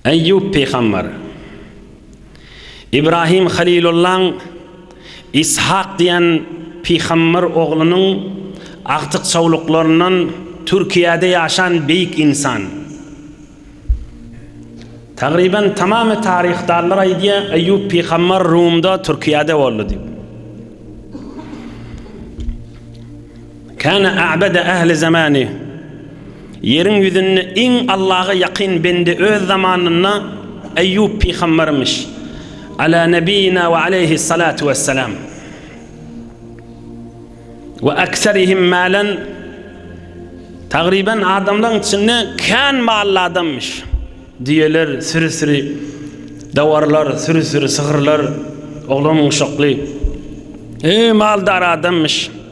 Eýýup pygamber, Ibrahim Halilullaň Ishak diýen pygamber oglunyň agtyk-çawluklaryndan Türkiýede ýaşan beýik ynsan. Tagryban tamamy taryhdarlar aýdýar, Eýýup pygamber Rumda, Türkiýede boldy diýip. Kana a'bada ahli zamani, Ýeriň ýüzünde iň Allaha ýakyn bende öz zamanynda Eýýup pygambermiş, Ala nebiyina we aleýhi salatu wessalam, we aksarihim malan, Tagryban adamlaryň içinde kän mally adamyş, düýeler, süri-süri dawarlar, süri-süri sygyrlar, oglan-uşakly, e maldar adamyş.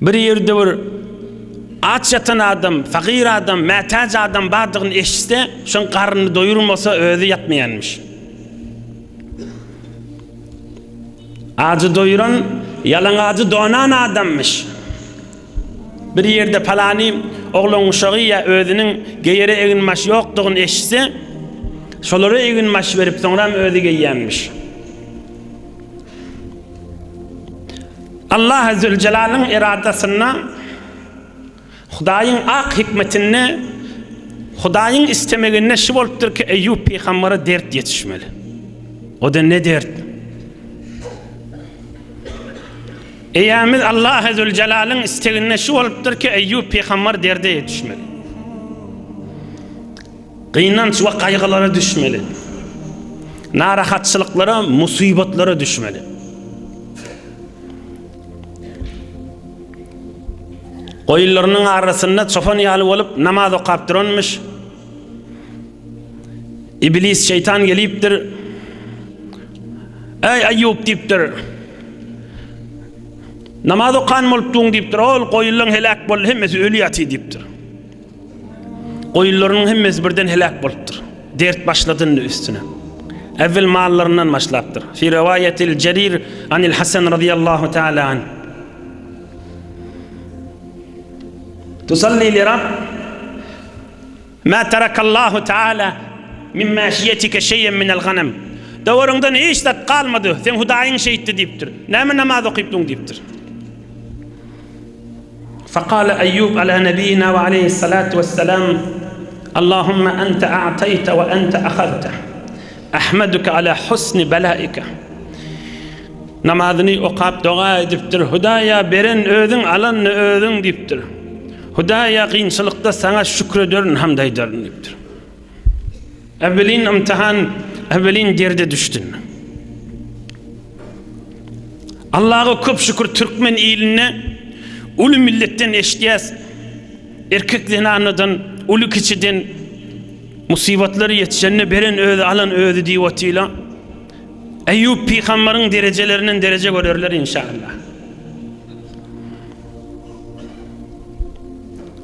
Bir ýerde bir aç ýatan adam, fakyr adam, mätäç adam bardygyny eşitse, şoň garnyny doýurmasa, özi ýatmaýanmyş. Ajy doýuran, ýalaňajy donan adammyş. Bir ýerde palany oglan uşagy ýa özüniň geýere egin-maş ýokdugyny eşitse, şolara egin-maş berip, soňram özi geýýänmiş. Allahy Züljelalyn eradasynda, Hudaýyň ak hikmetinde, Hudaýyň istemeginde şu bolupdyr ki, Eýýup pygambere dert ýetişmeli. O-da ne dert? Eýämiz Allahy Züljelalyn isteginde şu bolupdyr ki, Eýýup pygamber derde ýetişmeli. Gynanç we gaýgylara düşmeli. Narahatçylyklara, musybatlara düşmeli. Goýunlarynyň arasynda çopan ýaly bolup namaz okap duranmyş. Iblis şeýtan gelipdir. Ey Ayyub diýipdir. Namaz okan bolupdyň diýipdir. Ol goýunlaň heläk boldy, hemmesi öli ýaty diýipdir. Goýunlarynyň hemmesi birden heläk bolupdyr. Dert başladyndy üstüne. Äwwel mallaryndan başlapdyr. Fi riwaýatil Jerir anil Hasan radyýallahu teala anh. Tusalli li Rabb ma tarakallahu teala min maşiýetika şeýen minel ganem. Dowruňdan hiç zat galmady, seň Hudaýyň şeýtdi diýipdir. Näme namaz okypdyň diýipdir. Fakale Eýýub ala nebiyina we aleyhis salatu wessalam, Allahumma ente a'tayte we ente ahazte. Ahmaduke ala husni belaike. Namazyny okap doga edipdir. Hudaýa beren özüň, alan özüň diýipdir. Hudaýa gynçylykda saňa şükür ederin, hamd aýdaryn diýipdir. Äwelin ymtahan, äwelin derde düşdün. Allaga köp şükür türkmen ilinde uly milletden eşitýäs. Erkek zenanadan, uly kiçiden musibatlar ýetişende beren özi, alan özi diýip otyla. Eýýup pygambaryň derejelerinden dereje görerler inşallah.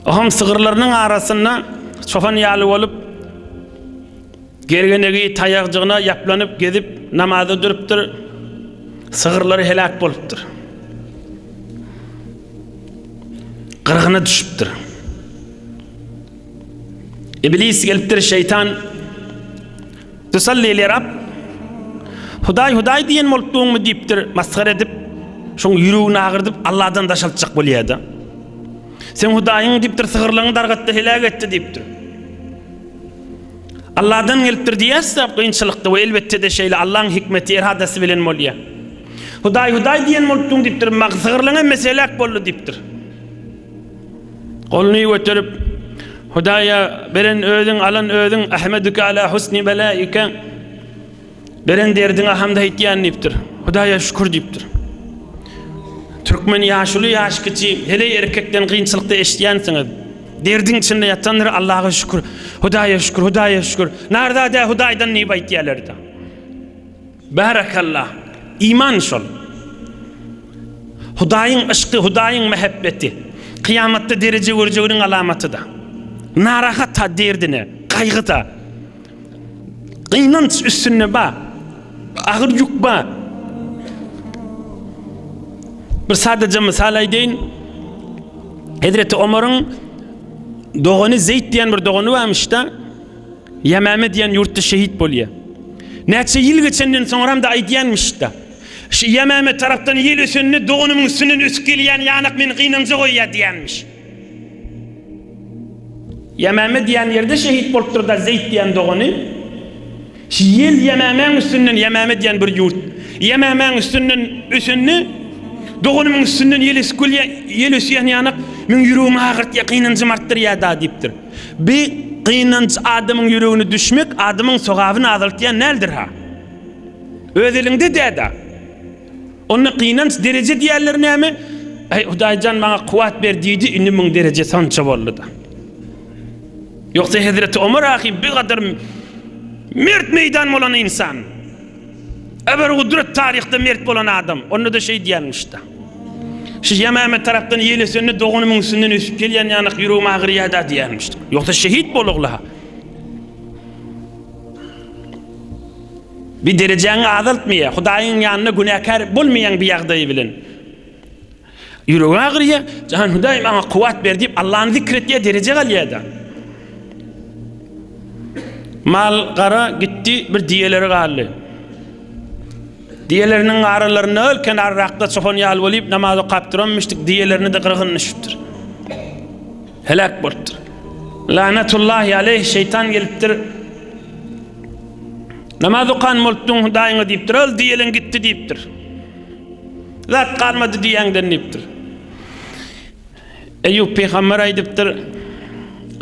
Aham sygyrlarynyň arasynda çopan ýaly bolup, gergenegi taýakjygyna ýaplanyp gezip namaza durupdyr. Sygyrlary heläk bolupdyr. Gyrgyna düşüpdir. Iblis gelipdir şeytan Tusalli li Rabb, Hudaý, Hudaý diýen bolup duňmy diýipdir, masgara edip, şoň ýüregini agyrdyp, Allahdan daşaltjak bolýar-da. Sen Hudaýyň diýipdir, sygyrlaňy dargatdy, heläk etdi diýipdir. Allahdan gelipdir diýýäs-de kynçylykda we elbetde-de şeýle Allaň hikmeti, eradasy bilen bolýar. Hudaý, Hudaý diýen bolup duň diýipdir, mag sygyrlaň hemmesi heläk boldy diýipdir. Goluny göterip, Hudaýa, Beren Özüň, alan Özüň, Ahmeduke ala husni belaike, Beren derdiňe hamd aýtýan diýipdir. Hudaýa şükür diýipdir. Türkmen ýaşuly, ýaş kiçi, heleý erkekden gynçylykda eşitýänsiňiz. Derdiň içinde ýatandyr, Allaha şükür, Hudaýa şükür, Hudaýa şükür, narzada Hudaýdan diýip aýtýarlarda. Bärekallah! Iman şol. Hudaýyň yşky, Hudaýyň mähebbeti kyýamatda dereje görjeginiň alamatyda. Narahata derdine, gaýgyda, gynanç üstünde ba, agyr ýük ba. Bir sadaja mysal aýdaýyn. Hezreti Omaryň dogany Zeýt diýen bir dogany barmyşda. Ýamame diýen ýurtda şehit bolýar. Näçe ýyl geçenden soňram-da aýdýanmyş-da. Şu Ýamame tarapdan ýel ösende doganymyň üstünden ötüp gelýän ýanak meni gynanja goýýar diýýänmiş. Ýamame diýen ýerde şehit bolupdyr-da Zeýt diýen dogany. Şu ýel Ýamamäň üstünden, Ýamame diýen bir ýurt. Ýamamäň üstünden ösende doganymyň üstünden ýel ösüp gelýär, ýel ösýän ýanak meň ýüregimi agyrtýar, gynanjym artdyrýar-da diýipdir. Bi gynanç adamyň ýüregine düşmek adamyň sogabyny azaltýan däldir-ha. Öz eliňde dä-da. Onda gynanç dereje diýýänler näme? Äý, Hudaý jan maňa kuwwat ber diýdi, indi muň derejesi onça boldy-da. Ýogsa hezreti Omar ahim bigadar mert meýdan bolan ynsan. Ebergudret taryhda mert bolan adam. Onda-da şeý diýermişdi. Şu Ýemame tarapdan ýelesende doganymyň üstünden ösüp gelýän ýanak ýüregim agyrýar-da diýermişdi. Ýogsa şehit bolagla-ha. Bir derejäňi azaltmaýar. Hudaýyň ýanynda günäkär bolmaýaň bir ýagdaýy bilen. Ýüregi agyrýar, Jan Hudaý maňa kuwwat ber diýip Allany zikr etýär, derejä galýar-da. Mal gara gitdi, bir diýeleri galdy. Diýeleriniň garalarynda öl kenarrakda çopan ýaly bolup namaz okap duran müşrik diýelerini-de gyrgyn düşüpdir. Heläk bolupdyr. Lanetullahi aleyh şeýtan gelipdir. Namaz okan bolupdyň Hudaýyňa diýipdir, öl diýeleň gitdi diýipdir. Zat galmady diýäňden diýipdir. Eýýup pygamber aýdypdyr.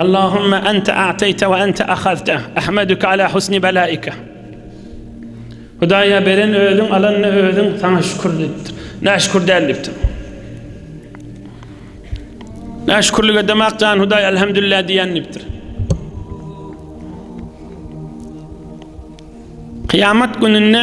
Allahumma anta a'tayta we anta akhazta. Ahmaduka ala husni balaika. Hudaýa beren özüň, alan özüň, saňa şükür diýipdir. Näşükür däl diýipdir. Näşükürlik edemak jan Hudaý elhamdülillah diýen diýipdir. Kıyamet gününde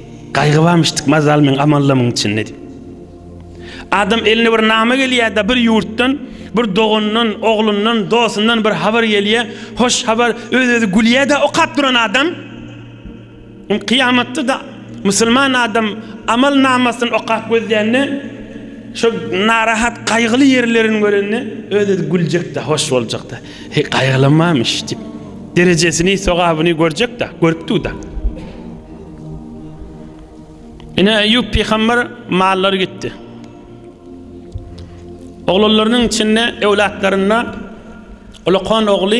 Gaýgy barmyşdyk mazal meň amallamyň içinde diýip. Adam eline bir nama gelýär-de bir ýurtdan, bir doganyndan, oglundan, dostundan bir habar gelýär. Hoş habar, öz-özi gülýär-de okap duran adam. Ol kyýamatda-da musulman adam amal namasyny okap gözlände, şo narahat, gaýgyly ýerlerini görende öz-özi güljek-de, hoş boljak-da. Heý, gaýgylanmamyş diýip, derejesini, sogabyny görjek-de, görüpdi-de. Ine Eýýup pygamber mallary gitdi. Oglanlarynyň içinde öwlatlarynda ulakan ogly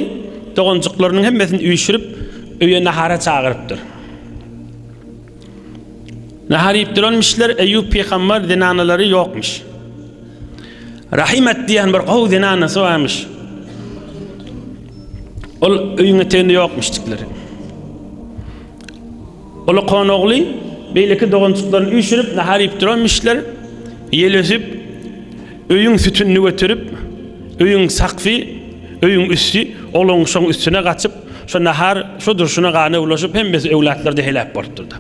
doganjyklarynyň hemmesini üýşürip, öýe nahara çagyrypdyr. Nahar iýip duranmyşlar, Eýýup pygamber zenanalary ýokmuş. Rahimat diýen bir gowy zenanasy barmyş. Ol öýüň eteginde ýokmuşdyklar. Uly Konogly beýleki doganjyklaryny üýşürip nahar iýip duranmyşlar. Ýelösüp öýüň sütünini göterip, öýüň sakfy, öýüň üsti ogluň şoň üstüne gaçyp, şo nahar şo durşuna gana bulaşyp, hemmesi öwlatlary-da heläk bolupdyr-da.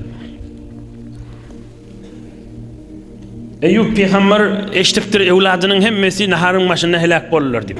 Eýýup pygamber eşidipdir, öwladynyň hemmesi naharyň başynda heläk boldular diýip.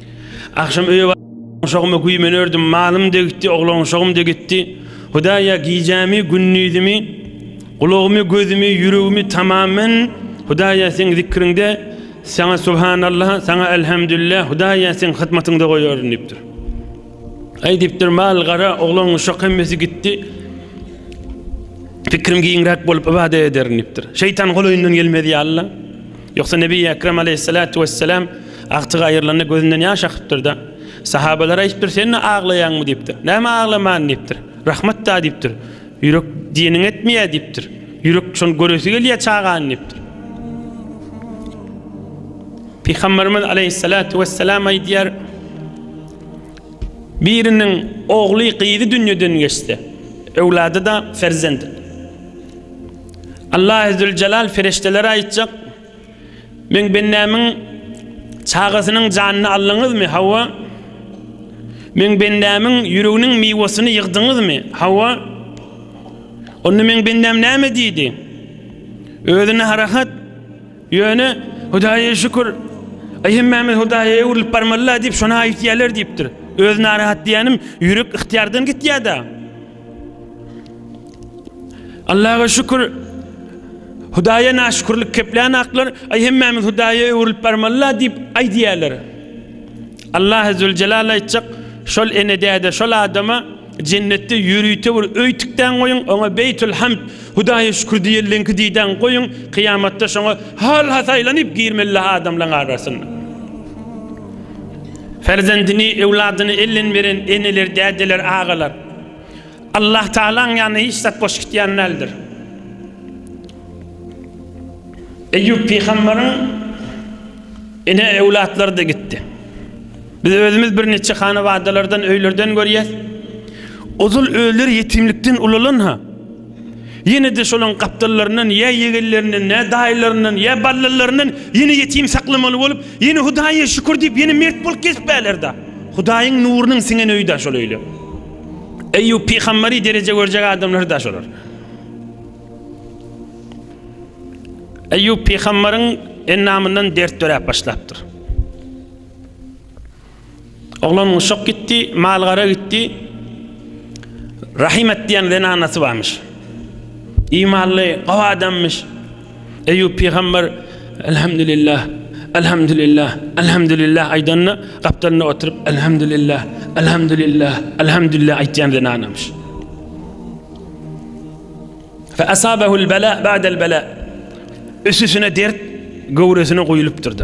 Agşam öýe Oglanşogyma güýmeni ördüm, malym degitdi, oglanşogym degitdi. Hudaýa gijämi, gündizimi, gulagymy, gözümi, ýüregimi tamam men, Hudaýa seň zikriňde, saňa subhanallah, saňa elhamdülillah, Hudaýa seň hyzmatyňda goýaryn diýipdir. Aý diýipdir, mal gara, oglan uşak hemmesi gitdi. Pikrim giňräk bolup ibadet ederin diýipdir. Şeýtan golaýyndan gelmez ýaly. Ýogsa Nebi Ekrem aleýhissalatu wessalam agtygy aýrylanda gözünden ýaş akypdyr-da. Sahabalar aýdypdyr, Sen-de aglaýaňmy diýipdir. Näme aglaman diýipdir. Rahmat-da diýipdir. Ýürek diýeniň etmeýär diýipdir. Ýürek şony göresi gelýär çagany diýipdir. Pygamberimiz aleýhissalatu wessalam aýdýar, Biriniň ogly, gyzy dünýeden geçse, öwlady-da perzent. Allah Zülcelal feriştelere aýtjak, Meň bendämiň çagasynyň janyny aldyňyzmy? Hawa. Meň bendämiň ýüreginiň miwesini ýygdyňyzmy? Hawa. Onda meň bendäm näme diýdi? Özüne harahat, ýöne Hudaýa şükür, Aý hemmämiz Hudaýa öwrülip barmaly-la diýip şony aýtýarlar diýipdir. Öz narahat diýýänim ýürek yhtyýardan gitýär-dä. Allaha şükür. Hudaýa naşükürlik keplän aklar, aý hemmämiz Hudaýa öwrülip barmalyla diýip aýdýarlar. Allah azze jelal aýtjak, şol ene däde, şol adama jennetde ýörite bir öý tikdän goýuň, oňa Beýtul Hamd, Hudaýa şükür diýildiňki diýdän goýuň, kyýamatda şoňa hal hasaýlanyp girmeli adamlaryň arasyna. Ferzendini, öwladyny elden beren eneler, dädeler, agalar. Allah Taala'ň ýanyna hiç zat boş gitýän däldir. Eyyub pygamberiň ene ewlatlary da gitdi. Biz özümiz bir neçe hanawadalardan, öýlerden görýäs. Ozal öýler ýetimlikden ulalan ha. Ýene-de şolaryň gapdallaryndan ýa ýegenlerinden, ýa daýylaryndan, ýa ballalaryndan ýene ýetim saklamaly bolup, ýene Hudaýa şükür diýip, ýene mert bolup gezip bärler-de. Hudaýyň nurunyň siňen öýi-de şol öýler. Eýýup pygamberi dereje görjek adamlary-da şolar. Eýýup pygamberiň endamyndan dert döräp başlapdyr. Oglan uşak gitdi, mal-gara gitdi. Rahimet diýen zenanasy barmyş. Imanly, gowy adamyş. Eýýup pygamber Elhamdülillah, Elhamdülillah, Elhamdülillah aýdanda, gapdalynda oturyp Elhamdülillah, Elhamdülillah, Elhamdülillah aýtýan zenanamyş. Fe asabahul bela ba'del bela. Üstüne dert göwresine goýulypdyrdy.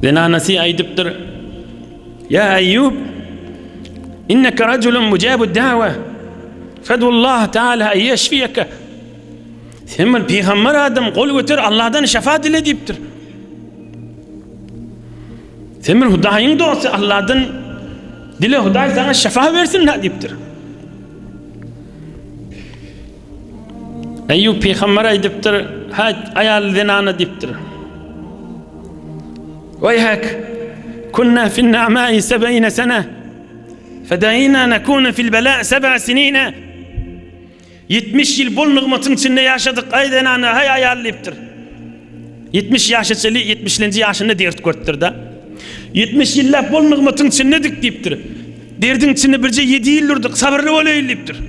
Zenanasy aýdypdyr, Ýa Eýýub, inneke rejulun mujabud dawa, fedullah taala en ýeşfiýeke. Sen bir pygamber adam, gol göter, Allahdan şefa dile diýipdir. Sen bir Hudaýyň dosty, Allahdan dile Hudaý saňa şefa bersin diýipdir. Eýýup pygamber aýdypdyr, hä, aýal zenana diýipdir. Weýhek, kunna fin na'ma'i seb'ine sene, fedaina nekuna fil bela seb'a sinine. 70 ýyl bol nygmatyň içinde ýaşadyk, aý zenana, haý aýal diýipdir. 70 ýaşa çeli 70-nji ýaşynda dert görüpdir-de. 70 ýyllap bol nygmatyň içindedik diýipdir. Derdiň içinde birje 7 ýyl durduk, sabyrly bolaýyl diýipdir.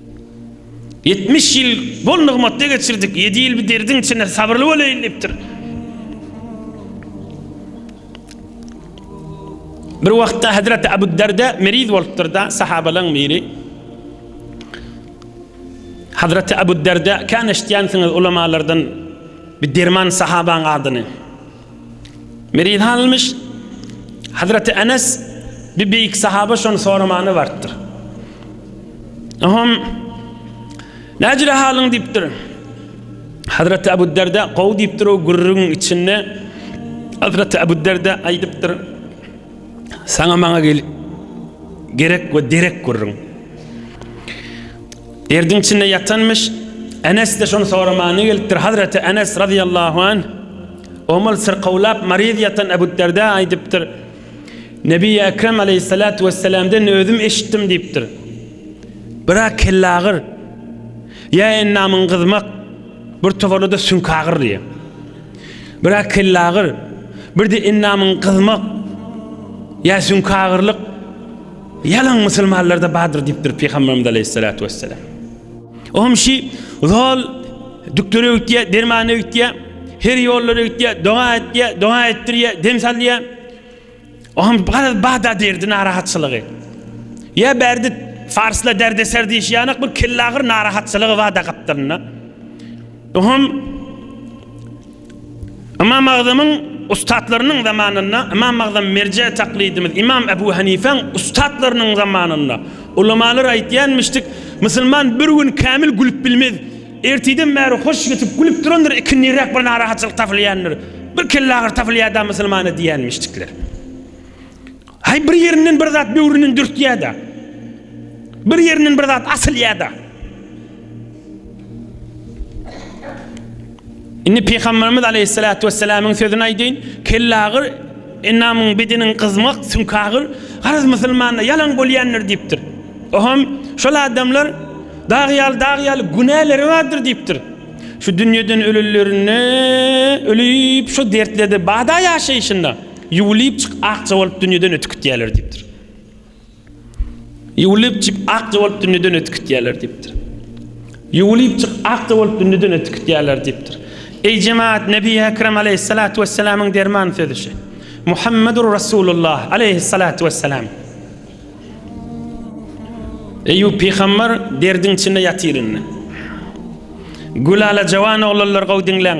Ýetmiş ýyl bol nygmatda geçirdik, ýedi ýyl bu derdiň içinde sabyrly bolaýyn diýipdir. Bir wagtda Hazreti Abu Darda meriz bolupdyr da, sahabalaryň biri. Hazreti Abu Darda, "Kan eşitýänsiňiz ulamalardan bir derman sahabaň adyny?" Meriz halmyş, Hazreti Enes bir beýik sahaba şony soramany bartdyr. Aham, näjire halyň diýipdir. Hazreti Abu Derde gowy diýipdir o gürrüň içinde. Hazreti Abu Derde aýdypdyr. Saňa maňa gel gerek we derek gürrüň. Derdiň içinde ýatanmyş, Enes-de şony soramagyna gelipdir. Hazreti Enes, razyýallahu anh, omal syrkawlap, maryz ýatan Ebuderdä aýdypdyr, Nebiýi Ekrem, aleýhissalatu wesselamden özüm eşitdim diýipdir, Bira kellagyr, ýa endamyň gyzmak, bir toparlada süňkagyr diýýär. Bira kellagyr, bir-de endamyň gyzmak, ýa süňkagyrlyk, Ýalan musulmanlarda bardyr diýipdir Pygamberimiz aleýhissalatu wesselam. Oňam şi zol düktüre öwütýä, dermana öwütýä, her ýollara öwütýä, doga etýä, doga etdirýä, dem salýa. Oňam garaz bada derdi narahatçylygy. Ýa berdi farsla derdeser diýişýänek bir kellagyr narahatçylygy bada gapdalynda. Oňam Ymam Agzamyň ussatlarynyň zamanynda, Ymam Agzam merje taklidimiz, Ymam Ebu Hanifäň ussatlarynyň zamanynda ulamalar aýtýanmyşdyk, Musulman bir gün kämil gülüp bilmez. Ertiden bäri hoş ýatyp gülüp durandyr, ikindiräk bir narahatçylyk tapylýandyr. Bir kellagyry tapylýar-da musulmana diýýänmişdikler. Haý bir ýerinden bir zat böwründen dürtýär-de. Bir ýerinden bir zat asylýar-da. Indi Pygamberimiz Aleyhissalatu vesselamyň sözüni aýdyň, kellagyr enamyň bedeniň gyzmak sünkagyr garaz musulmanda ýalan bolýandyr diýipdir. Oham şol adamlar dag ýaly dag ýaly günäleri bardyr diýipdir. Şu dünýeden ölenlerinde ölüp şu dertlerde bada ýaşaýşynda Ýuwlypjyk akja bolup dünýeden ötüp gitýärler diýipdir. Ýuwlypjyk akja bolup dünýeden ötüp gitýärler diýipdir. Ýuwlypjyk akja bolup dünýeden ötüp gitýärler diýipdir. Eý jemaat, Nebi Ekrem aleýhissalatu wessalamyň derman sözi şu. Muhammedur Rasulullah aleýhissalatu wessalam. Eýýup pygamber derdiň içinde ýatyr indi. Gülala jawan oglanlar gowy diňläň.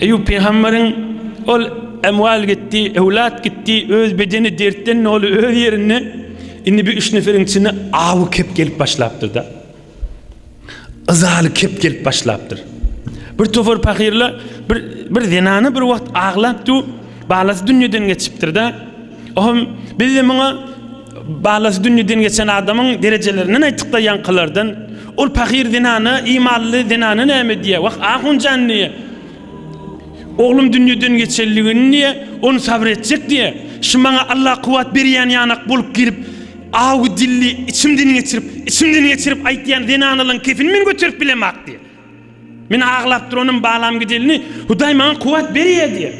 Eýýup pygamberiň, Ol emwal gitdi, öwlat gitdi, öz bedeni dertden doly öz ýerinde, indi bir üç neferiň içinde awy kep gelip başlapdyr-da. Yzaly kep gelip başlapdyr. Bir topar pahyrlar, bir, bir zenana bir wagt aglap dur, balasy dünýeden geçipdir-da. Ohm, biz-de muňa Balasy dünýeden geçen adamyň derejelerinden aýtdyk-da ýaňkylardan. Ol pahyr zenana, imanly zenana näme diýýär? Wah, ahun jan diýýär. Oglum dünýeden geçeli gün diýýär, ony sabyr etjek diýýär. Şu maňa Alla kuwwat berýän ýanak bolup girip, awy dilli içimden geçirip, içimden geçirip aýtýan zenanalaň kefini men göterip bilemok diýýär. Men aglap duranym Balam gideline Hudaý maňa kuwwat berýär diýýär.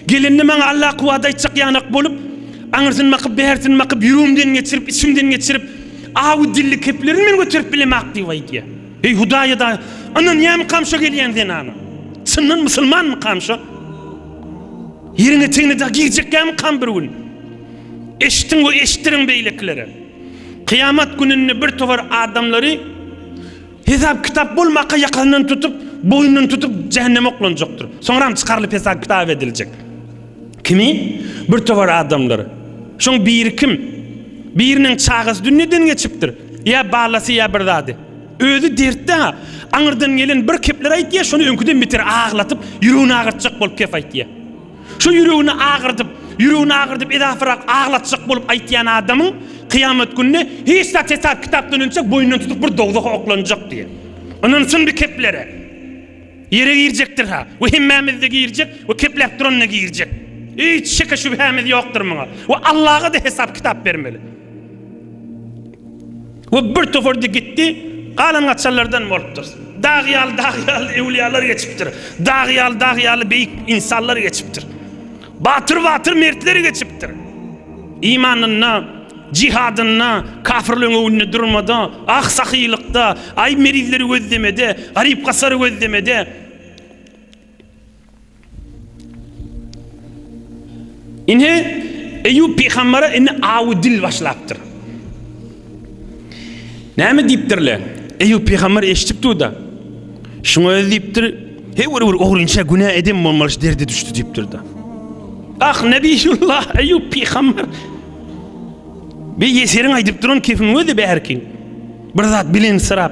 Gelenine maňa Allah kuwwat aýtjak ýanak bolup, aňyrsyn bakyp, bärsin bakyp, ýüregimden geçirip, içimden geçirip, awy dilli keplerini men göterip bilemak diýip aýdýar. Eý Hudaýa-da ynanýarmykam şo gelýän zenana? Çyndan musulmanmykam şo? Ýeriň etegine-de girjekkämikam bir gün? Eşitiň we eşitdiriň beýlekilere. Kyýamat gününde bir towar adamlary Hesap-kitap bolmaka ýakasyndan tutup, boýnundan tutup jähenneme oklanjakdyr. Soňram çykarylyp hesap-kitap ediljek. Kimi? Bir towar adamlar. Şoň biri kim? Biriniň çagasy dünýeden geçipdir. Ýa balasy ýa bir zady. Özi dertde-ha. Aňyrdan gelen bir kepler aýtýa, şony öňküden beter aglatyp, ýüregini agyrtjak bolup kep aýtýa. Şu ýüregini agyrdyp, ýüregini agyrdyp edasyrak aglatjak bolup aýtýan adamyň kyýamat gününe hiç zat hesap kitapdan önçek boýundan tutup bir dowzaha oklanjak diýen. Ynansyn bi keplere. Ýere girjekdir ha we hemmämizde girjek we kepläp duranda girjek. Hiç şeke şübhämiz ýokdur muňa we Allaga da hesap kitap bermeli. We bir topardy gitdi, galan gaçanlardan bolupdyr. Dag ýaly, dag ýaly ewliýalar geçipdir. Dag ýaly, dag ýaly beýik ynsanlar geçipdir. Batyr, batyr mertler geçipdir. Imanynda, jihadynda, kapyrlygyň öňünde durmada, ah sahylykda, aý merizleri gözlemede, garyp gasary gözlemede, Ine, Eýýup pygambere indi awy dil başlapdyr. Näme diýipdirler? Eýýup pygamber eşidip dur-da, şuňa özi diýipdir, Hewr bir ogrynça günä eden bolmaly şu derde düşdi diýipdir-de. Ah, Nebiyullah Eýýup pygamber. Bir ýeseriň aýdyp duran kefin özi bärki. Bir zat bilen syrap.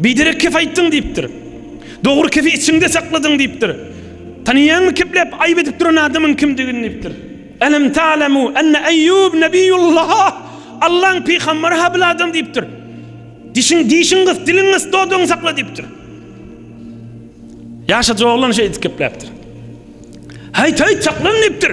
Biderek kep aýtdyň diýipdir. Dogry kepi içiňde sakladyň diýipdir. Tanaýaňmy kepläp aýyp edip duran adamyň kimdigini diýipdir. Elem ta'lemu enne Eýýub nebiýullah, Allaň pygambary ha bil adam diýipdir. Dişiň dişiň gys, diliň gys, dodagyňy sakla diýipdir. Ýaşajyk oglan şeýdip kepläpdir. Haýt haýt saklan diýipdir.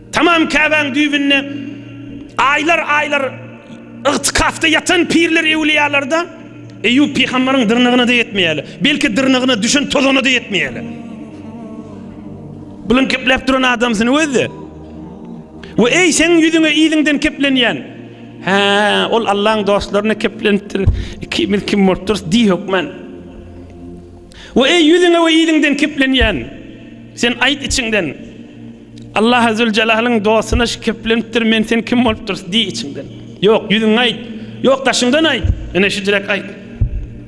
Tamam Käbäň düýbünde aýlar-aýlar ygtykafda ýatan pirler-ewliýalar-da Eýýup pygambaryň dyrnagyna-da ýetmeýärler. Belki dyrnagyna düşen tozana-da ýetmeýärler. Bulan kepläp duran adamsyny öz-de. We eý, seň ýüzüňe yzyňdan keplenýän. Hä, ol Allaň dostlaryna keplenipdir. Ikimiz kim bolup durus diý hökman. We eý, ýüzüňe we yzyňdan keplenýän. Sen aýt içiňden. Allaha Züljelalyn dostuna şikeplenipdir, men sen kim bolup durys, diý içiňden. Ýok, ýüzüňe aýt. Ýok, daşyňdan aýt. Ine şüjräk aýt.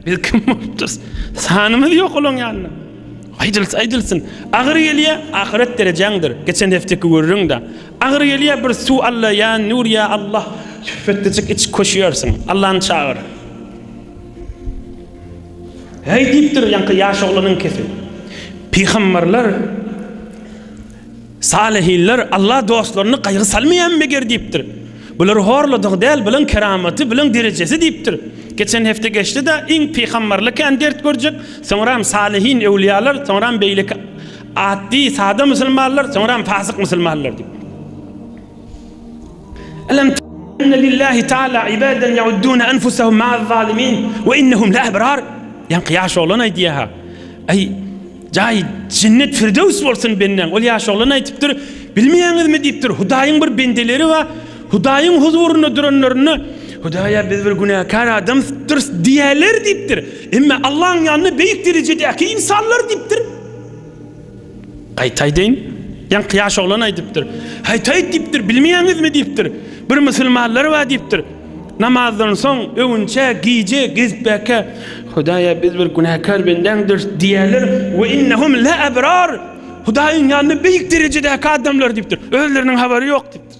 Biz kim bolup durys? Sanymyz ýok olaň ýanynda. Aýdylsa aýdylsyn. Agyr gelýä, ahyret derejäňdir. Geçen hefteki gürrüňde. Agyr gelýä, bir suw Alla, ýa Nur, ýa Allah, şüpbetdejik iç, köşýärsiň. Allany çagyr. Häý diýipdir ýaňky ýaş oglanyňkysy. Pygamberler Salyhinler Alla dostlaryny gaýgy salmaýan meger diýipdir. Bular horladygy däl, bulaň keramaty, bulaň derejesi diýipdir. Geçen hepde geçdi-de, iň pygamberli kän dert görjek, soňram salyhin, öwliýalar, soňram beýleki atdy, sada musulmanlar, soňram fasyk musulmanlar diýip. Alam anna lillahi taala ibadan yaudduna anfusahum ma'az zalimin we innahum la abrar. Ýaňky ýaş oglan aýdýar ha. Aý, jaý jennet firdews bolsun benden. Ol ýaş oglan aýdypdyr, bilmeýäňizmi diýipdir, Hudaýyň bir bendeleri bar, Hudaýyň huzurynda duranlarynda, Hudaýa biz bir günäkär adamdyrys diýerler diýipdir. Emma Allahyň ýanynda beýik derejedäki ynsanlar diýipdir. Gaýtaýdyn, ýaňky ýaş oglan aýdypdyr. Haýt-haýt diýipdir, bilmeýäňizmi diýipdir. Bir musulmanlar bar diýipdir. Namazdan soň öwünçä gije gezipbäkä, Hudaý-a biz bir günäkär bendäňdiris diýýärler, we innehum la abrar, Hudaýyň ýanynda beýik derejedäki adamlar diýipdir. Özleriniň habary ýok diýipdir.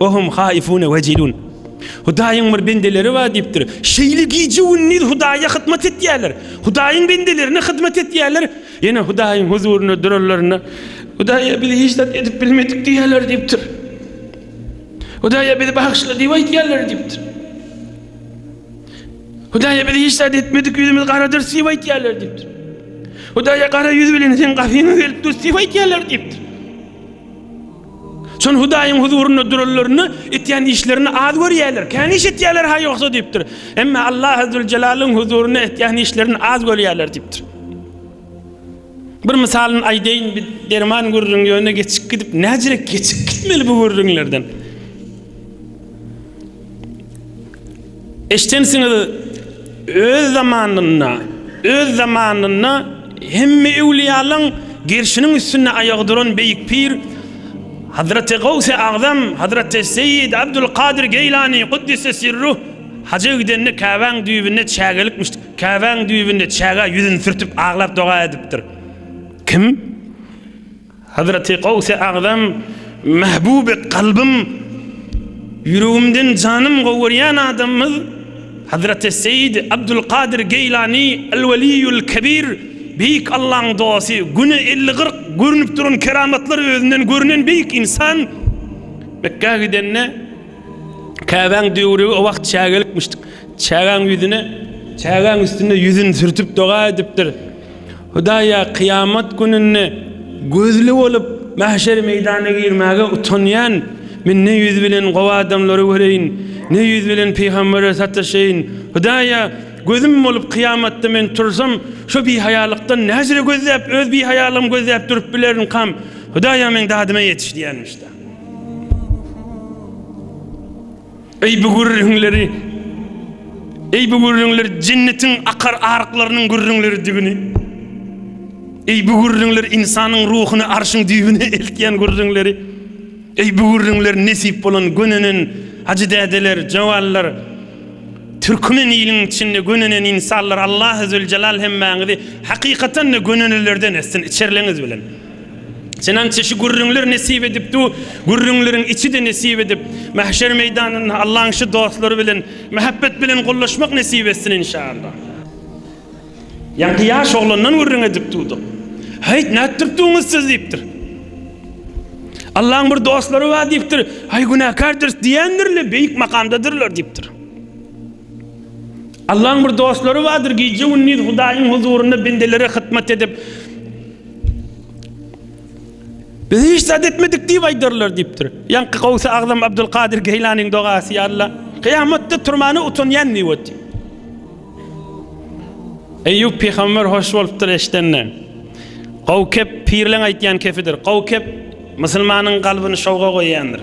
Ve hum haifune vecilun. Hudaýyň bir bendeleri bar diýipdir. Şeýle gije-gündiz Hudaýa hyzmat etýärler. Hudaýyň bendelerine hyzmat etýärler. Ýene Hudaýyň huzuryna duranlarynda, Hudaýa biz hiç zat edip bilmedik diýýärler diýipdir. Hudaýa bizi bagyşla diýip aýtýarlar diýipdir. Hudaýa biz hiç zat etmedik, ýüzümiz garadyr diýip aýtýarlar diýipdir. Hudaýa gara ýüz bilen sen gafyňa gelip dur diýip aýtýarlar diýipdir. Şol Hudaýyň huzurynda duranlaryny etýän işlerini az görýärler. Kän iş etýärler ha ýogsa diýipdir. Emma Allahy Züljelalyn huzurynda etýän işlerini az görýärler diýipdir. Bir mysalyny aýdaýyn, biz derman gürrüň ýöne geçip gidip, näcirek geçip gitmeli bu gürrüňlerden. Eşdensiňiz, öz zamanynda, öz zamanynda hemme öwliýalaň gerşiniň üstünde aýagy duran beýik pir Hazraty Gawsy Agzam, Hazraty Seýidi Abdul Kadyr Geýlany Guddise Sirruh haja gidende Käbäň düýbünde çägelikmişdi. Käbäň düýbünde çägä ýüzüni sürtüp aglap doga edipdir. Kim? Hazreti Gawse Agzam, Mehbuby kalbym, ýüregimden janym gowerýän adamymyz Hazreti Seýidi Abdulkadyr Geýlany Al-Weliýul Kebir, Beýik Allaň dosty, güne elli-kyrk görnüp duran keramatlar özünden görnen beýik ynsan, Mekgä gidende, Käbäň döwrügi o wagt çägelikmişdik, çägäň ýüzüne, çägäň üstüne ýüzüni sürtüp doga edipdir. Hudaýa kyýamat gününde gözli bolup, mäşer meýdanyna girmäge utanýan, Men ne ýüz bilen gowy adamlary göreýin, ne ýüz bilen pygambere sataşaýyn? Hudaýa gözüm bolup, kyýamatda men tursam, şu bihaýalykdan nähili gözläp, öz bihaýalygymy gözläp durup bilerinkam? Hudaýa meň dadyma ýetiş diýýänmiş-dä. Eý bu gürrüňleri, eý bu gürrüňler jennetiň akar aryklarynyň gürrüňleridigini, eý bu gürrüňler ynsanyň ruhuny arşyň düýbüne eltýän gürrüňleri, eý bu gürrüňler nesip bolan gönenen hajydädeler, jawanlar, türkmen iliň içinde gönenen ynsallar Allah-u-züljelal hemmäňizi hakykatan-da gönenelerden etsin içerleňiz bilen. Çenança şu gürrüňler nesip edip du, gürrüňleriň içi-de nesip edip, mähşer meýdanynda Allaň şu dostlary bilen mähebbet bilen gollaşmak nesip etsin inşaallah. Ýaňky ýaş oglandan gürrüň edip durduk. Häýt, nätdirip duňyz siz diýipdir. Allaň bir dostlary bar diýipdir. Aý günäkärdiris diýendirle beýik makamdadyrlar diýipdir. Allaň bir dostlary bardyr, gije-gündiz Hudaýyň huzurynda bendelere hytmat edip, Biz hiç zat etmedik diýip aýdarlar diýipdir. Ýaňky Gowsy Agzam Abdulkadyr Geýlanyň dogasy ýa-la kyýamatda turmana utanýan diýip otyr. Eýýup pygamber hoş bolupdyr eşidende. Gowkep pirleň aýtýan kepidir. Gowkep musulmanyň kalbyny şowga goýýandyr.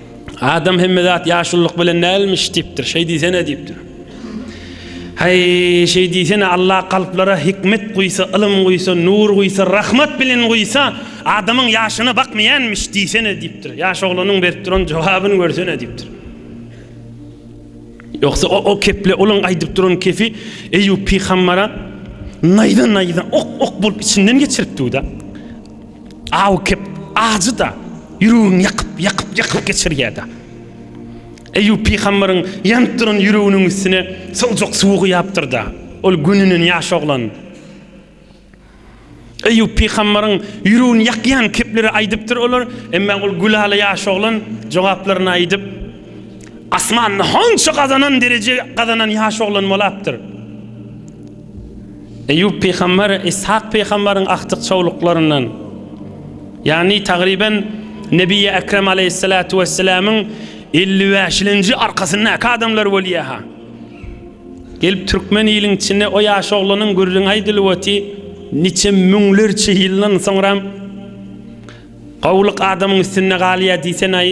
Adam hemme zat ýaşullyk bilen dälmiş diýipdir. Şeý diýsene diýipdir. Haý, şeý diýsene Allah kalplara hikmet guýsa, ylym guýsa, nur guýsa, rahmat bilen guýsa, adamyň ýaşyna bakmaýanmiş diýsene diýipdir. Ýaş oglanyň berip duran jogabyny görsene diýipdir. Ýogsa o, o keple uluň aýdyp duran kefi Eýýup pygambara naýza naýza ok ok bolup içinden geçiripdi da. Aw kep, ajy-da, ýüregiňi ýakyp, ýakyp, ýakyp geçirýär-de. Eýýup pygamberyň ýanyp duran ýüreginiň üstüne sowjak suwy guýapdyr-da, ol gününden ýaş oglan. Eýýup pygamberyň ýüregini ýakýan kepleri aýdypdyr olar, emma ol gülala ýaş oglan jogaplaryny aýdyp, asmanda hança gazanan dereje gazanan ýaş oglan bolapdyr. Eýýup pygamber Yshak pygamberyň agtyk-çowluklaryndan, ýagny tagryban Nebiyyi Ekrem aleýhissalatu wesselamyň elli bäşilinji arkasyndaky adamlar bolýa-ha. Gelip türkmen iliň içinde o ýaş oglanyň gürrüňi aýdylyp oty, niçe müňlerçe ýyldan soňram gowulyk adamyň üstünde galýa diýsen-aý.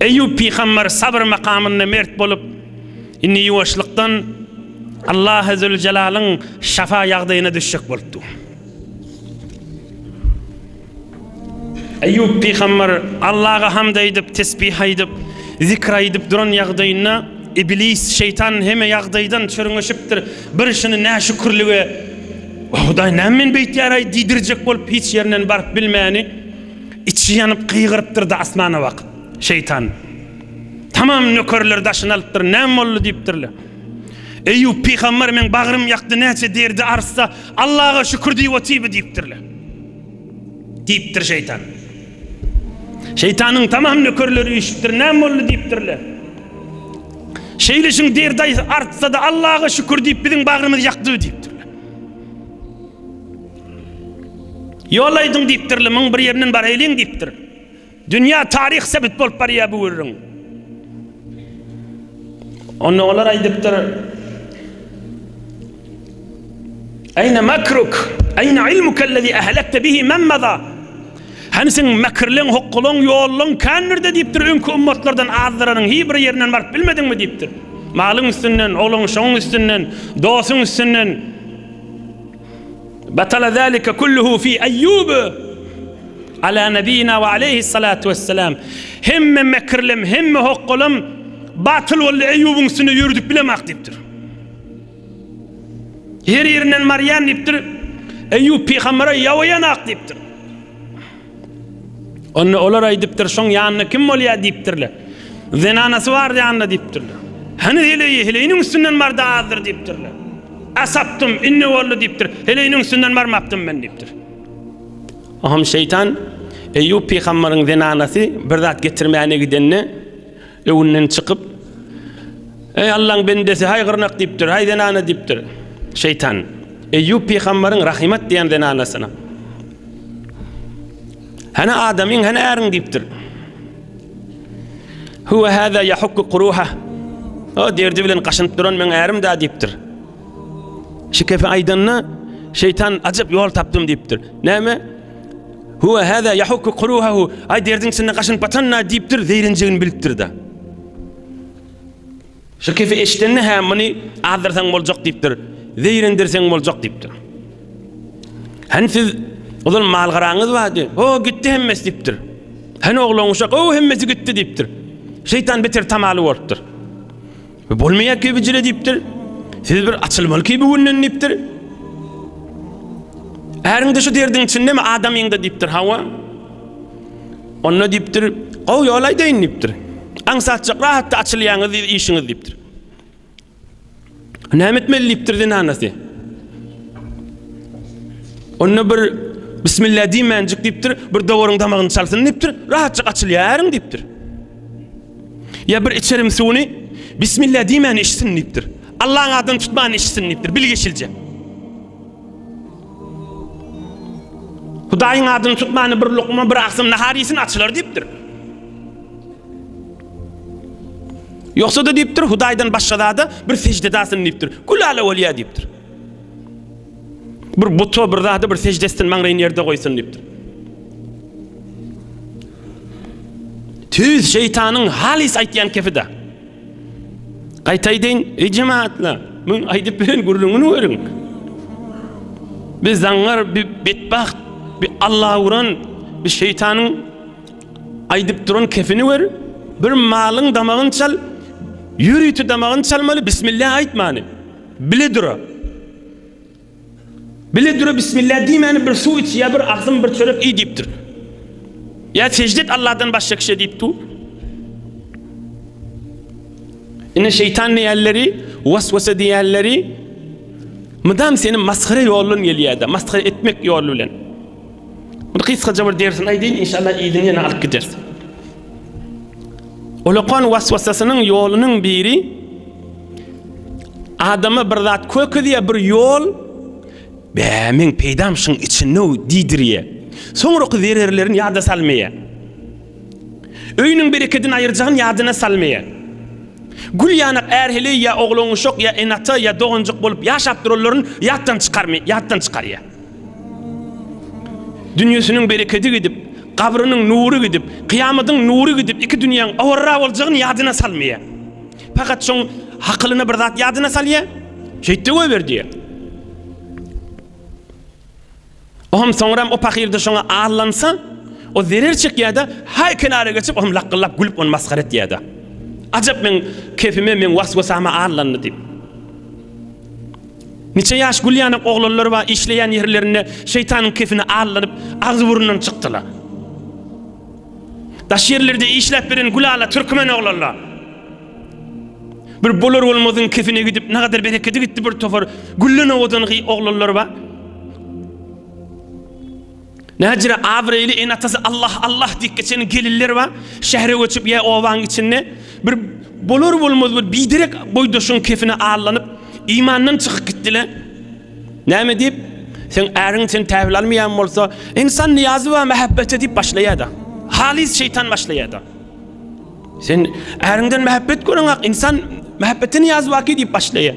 Eýýup pygamber sabyr makamynda mert bolup, indi ýuwaşlykdan Allahy Züljelaliň şafa ýagdaýyna düşjek bolupdy. Eýýup pygamber Allaga hamd aýdyp, tesbih aýdyp, zikr aýdyp duran ýagdaýynda, Iblis, şeýtan heme ýagdaýdan çürňeşipdir. Bir şuny näşükürlige, Hudaý näme meni beýtýär-aý diýdirjek bolup, hiç ýerinden baryp bilmäni, Içi ýanyp gygyrypdyr-da asmana bakyp, Şeýtan! Tamam nökerleri daşyna alypdyr, näme boldy diýipdirler. Eýýup pygamber meň bagrym ýakdy, näçe derdi artsa, Allaga şükür diýip otyby diýipdirler. Diýipdir şeýtan. Şeýtanyň tamam nökerleri üýşüpdir, näme boldy diýipdirler. Şeýleşiň derdi artsa-da, Allaga şükür diýip biziň bagrymyz ýakdy diýipdirler. Ýol aýdyň diýipdir, lymyň bir ýerinden baraýlyň diýipdir. Dünýä taryh sebit bolup barýar bu gürrüň. Onda olar aýdypdyr, Aýna makruk, aýna ilmuk allazi ahlakta bihi men maza. Hany seň mäkirleň, hokgalaň, ýollaň kän nirde diýipdir, öňki ummatlardan azdyranyň hi bir ýerinden baryp bilmediňmi diýipdir. Malyň üstünden, oglanşygyň üstünden, dosuň üstünden. Batala zalika kulluhu fi Eýýub ala nebiyina we aleyhi salatu wessalam. Hemme mekirlem, hemme hokgalam batyl boldy Eýýubyň üstünde ýöredip bilemak diýipdir. Her ýerinden marýan diýipdir. Eýýub pygambere ýawaýanak diýipdir. Onda olar aýdypdyr, Şoň ýanynda kim bolýar? diýipdirler. Zenanasy bar ýanynda diýipdirler. Hany heleýi, heleýiniň üstünden bardy azdyr diýipdirler. Asapdym, indi boldy diýipdir. Heleýiniň üstünden barmapdym men diýipdir. Oňam şeýtan Eýýup pygambaryň zenanasy bir zat getirmäne gidende, Öwünden çykyp, Eý Allaň bendesi, haý gyrnak diýipdir, haý zenana diýipdir. Şeýtan Eýýup pygambaryň Rahimat diýen zenanasyna. Hana adamyň, hana äriň diýipdir. Huwa hada yahukku quruha. O derdi bilen gaşynyp duran meň ärim da diýipdir. Şikefe aýdanda şeýtan ajap ýol tapdym diýipdir. Näme? Huwa hada yahukku quruhahu. Ay derdin içinde gaşynyp batanna diýipdir, zeýrenjegini bilipdir-de. Şu kefi eşidende hä muny azdyrsaň boljak diýipdir, zeýrendirseň boljak diýipdir. Hani siz ozal malgaraňyz bardy. O gitdi hemmesi diýipdir. Hani oglan uşak, o hemmesi gitdi diýipdir. Şeytan beter tamaly bolupdyr. Bu bolmaýar ki bijile diýipdir. Siz bir açylmaly ki bu günden diýipdir. Äriňde şu derdiň içinde mi adamyňda diýipdir hawa. Onda diýipdir gowy ýol aýdaýyn diýipdir. Aňsatjak rahatda açylýaňyz işiňiz diýipdir. Näme etmeli diýipdir zinanasy. Onda bir Bismillah diýmänjik diýipdir, bir dowaryň damagyny çalsyn diýipdir, rahatça açylýaryň diýipdir. Ýa bir içerim suwuny Bismillah diýmän içsin diýipdir. Allaň adyny tutman içsin diýipdir. Bilgeşilje. Hudaýyň adyny tutmany bir lukma bir aksym nahar iýsin açylar diýipdir. Ýogsa da diýipdir, Hudaýdan başga zada bir sejdedasyn diýipdir. Gülala bolýa diýipdir. Bir buta bir zada bir secde etsin maňraýyny ýerde goýsun diýipdir. Tüýs şeýtanyň halys aýtýan kepide. Gaýtaýdyn, eý jemaatlar, bu aýdyp beren gürrüňini görüň. Biz zaňňar bir betbagt, bir Allah uran, bir şeýtanyň aýdyp duran kepini gör. Bir malyň damagyny çal, ýörite damagyny çalmaly, bismillah aýtmany. Bile dura. Bile dura Bismillah diýmäni bir suw iç ýa bir agzym bir çörek iý diýipdir. Ýa sejde et Allahdan başga kişä diýipdi. Ine şeýtan diýenleri, waswasa diýenleri mydam seni masgara ýoldan gelýärdi, masgara etmek ýoly bilen. Indi gysgaja bir dersini aýdaýyn, inşallah yzyny ýene alyp gideris. Ulukon waswasasynyň ýolunyň biri adama bir zat kökezýär, bir ýol bä men peýdam şuň içinde diýdirýär. Soňraky zererlerini ýada salmaýar. Öýüniň berekedini aýyrjagyny ýadyna salmaýar. Gül ýanak ärheleý ýa oglanuşak ýa enata ýa doganjyk bolup ýaşap duranlaryny ýatdan çykarmaýar, ýatdan çykarýar. Dünýesiniň berekedi gidip, gabrynyň nury gidip, kyýamadyň nury gidip, iki dünýäň awarra boljagyny ýadyna salmaýar. Pakat şoň hakylyna bir zat ýadyna salýar, Şeýt-de goýber diýýär. O hem soňram o pahyr-da şoňa allansa, o zerer çekýär-de, haý kenara geçip, o hem lakgyllap gülüp ony masgara etýär-de. Ajap meň kepime, meň was-wasama allandy diýip. Niçe ýaş gül ýanak oglanlar bar işleýän ýerlerinde şeýtanyň kefine aldanyp agzy burundan çykdylar. Daş ýerlerde işläp beren gül ala türkmen oglanlar. Bir bolar bolmazyň kefine gidip nagadyr berekedi gitdi bir topar gülden owadan gyz oglanlar bar. Näcire abraýly ene-atasy Allah, Allah diýip geçen gelinler bar. Şähere göçüp ýa obaň içinde bir bolar-bolmaz bir biderek boýdaşyň kefine allanyp, imandan çykyp gitdiler. Näme diýip? Sen äriň sen täwil almaýan bolsa, insan niýazy bar mähebbete diýip başlaýar-da. Halys şeýtan başlaýar-da. Sen äriňden mähebbet göreňak, insan mähebbete niýazy barki diýip başlaýar.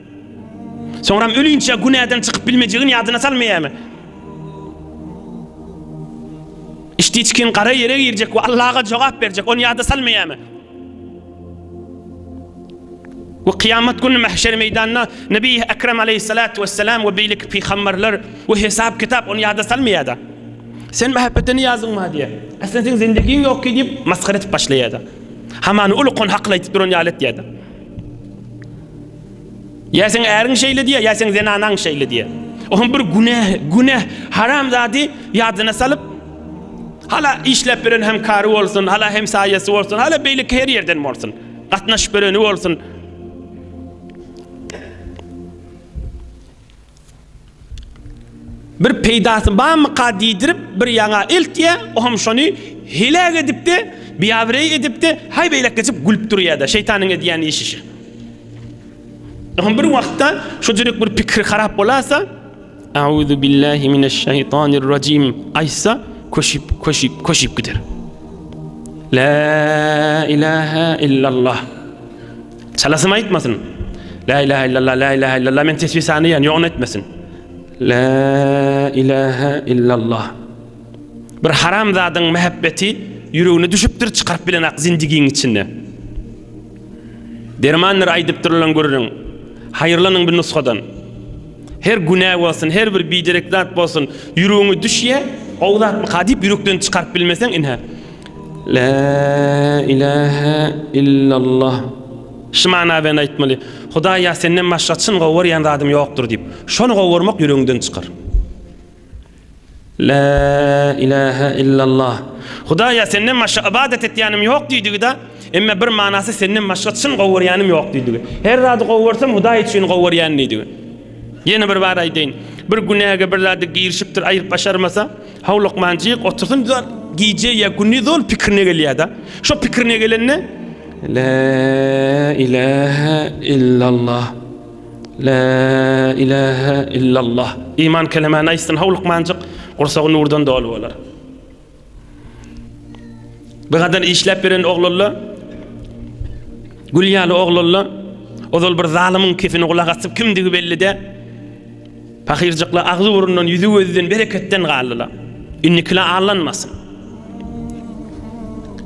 Soňram ölinçä günäden çykyp bilmejegini ýadyna salmaýarmy? Içdi-içgin gara ýere girjek we Allaga jogap berjek, ony ýada salmaýarmy? We kyýamat güni mähşer meýdanynda Nebi Ekrem aleýhissalatu wessalam we beýleki pygamberler we hesap-kitap ony ýada salmaýar-da. Sen mähepete niýazyň bar diýýär. Aslynda seň zendegiň ýokky diýip masgara edip başlaýar-da. Hamany ulukan hakly aýdyp duran ýaly etýär-de. Ýa seň äriň şeýle diýýär, ýa seň zenanaň şeýle diýýär. Oňa bir günäh, günäh, haram zady ýadyna salyp, hala işläp beren hem kary bolsun, hala hem saýasy bolsun, hala beýle her ýerden bolsun. Gatnaşyp bereni bolsun. Bir peýdasy barmyka diýdirip bir ýaňa eltýä, o hem şony heläk edip-de, biabraý edip-de, haý beýläk geçip gülüp durýa-da, şeýtanyň edýän işi şu. O hem bir wagtda şujuryk bir pikiri harap bolasa, Auzu billahi mineşşeýtanir rajim aýtsa, köşüp, köşüp, köşüp gider. La ilaha illallah. Çalasym aýtmasyn. La ilaha illallah, la ilaha illallah men tesbih sanaýan, ýogyn etmesin. La ilaha illallah. Bir haram zadyň mähebbeti ýüregine düşüpdir, çykaryp bilen ak zindigiň içinde. Dermandyr aýdypdyrlan gürrüň. Haýyrlanyň bir nusgadan. Her günä bolsun, her bir biderek zat bolsun, ýüregiňe düşýä, o zatmy ka diýip ýürekden çykaryp bilmeseň, ine. La ilahe illallah. Şu mana bilen aýtmaly, Hudaý ýa senden başga çyn gowarýan zadym ýokdur diýip, şony gowarmak ýüregiňden çykar. La ilahe illallah. Hudaý ýa senden başga ybadat etýänim ýok diýdigi-de, emma bir manasy senden başga çyn gowarýanym ýok diýdigi. Her zady gowarsam Hudaý üçin gowarýan diýdigi. Ýene bir bar aýdaýyn. Bir günäge bir zady girişipdir, aýryp başarmasa, How lukmanjyk otursyn zol gije ya güni zol pikirine gelýär da. Şo pikirine gelende La ilahe illallah. La ilahe illallah. İman kelemany aýtsyn how lukmanjyk gursagy nurdan doly bolar. Bu gadan işläp beren oglalla Gül ýaly oglalla ozal bir zalymyň kesini gulak asyp kimdigi belli de Pahyrjyklar agzy-burundan, ýüzi-gözden, bereketden galdylar. Indikilä allanmasyn.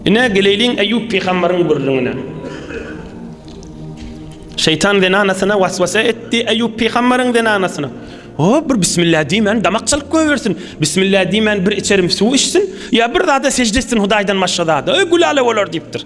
Ine, geleýliň Eýýup pygamberyň gürrüňine. Şeýtan zenanasyna waswasa etdi, Eýýup pygamberyň zenanasyna. O, bir bismillah diýmän damak çalyp goýbersin. Bismillah diýmän bir içerim suw içsin, ýa bir zada sežde etsin Hudaýdan başga zada. Öý, gülala bolar diýipdir.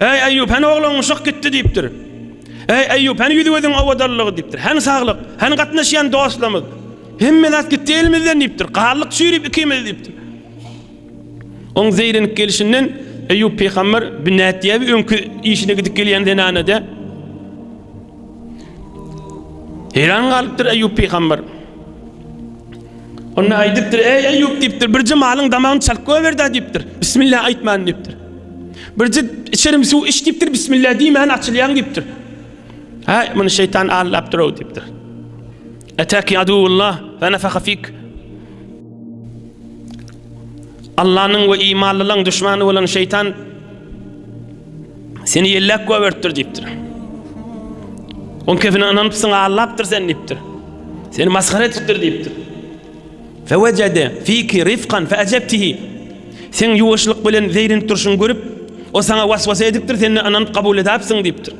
Äý, Eýýup, hany ogluň çyk gitdi diýipdir. Äý, Eýýup, hany ýüz-gözüň owadanlygy diýipdir. Hany saglyk, hany gatnaşýan dostlarymyz. Hemme zat gitdi elimizden diýipdir. Galdyk çüýrüp ikimiz diýipdir. Oň zeýrenip gelişinden Eýýup pygamber, Bu nätýäbi öňki işine gidip gelýän zenana-de? Heýran galypdyr Eýýup pygamber. Onda aýdypdyr, eý Eýýup diýipdir, birje malyň damagyny çalyp goýberdi diýipdir. Bismillah aýtman diýipdir. Birje içerim suw iç diýipdir, bismillah diýmän açylýan diýipdir. Ha, muny şeýtan aldapdyr o diýipdir. Etaki adullah ve nefaka fik. Allah'nın ve imanlılan düşmanı olan şeytan Seni ýelläp göberipdir diýipdir. On kefine ynanypsyň, allapdyr sen diýipdir. Seni masgara etipdir diýipdir. Fewejede fiki rifkan feajebtihi. Sen ýuwaşlyk bilen zeýrenip durşuňy görüp, o saňa waswasa edipdir, sen-de ynanyp kabul edäpsiň diýipdir.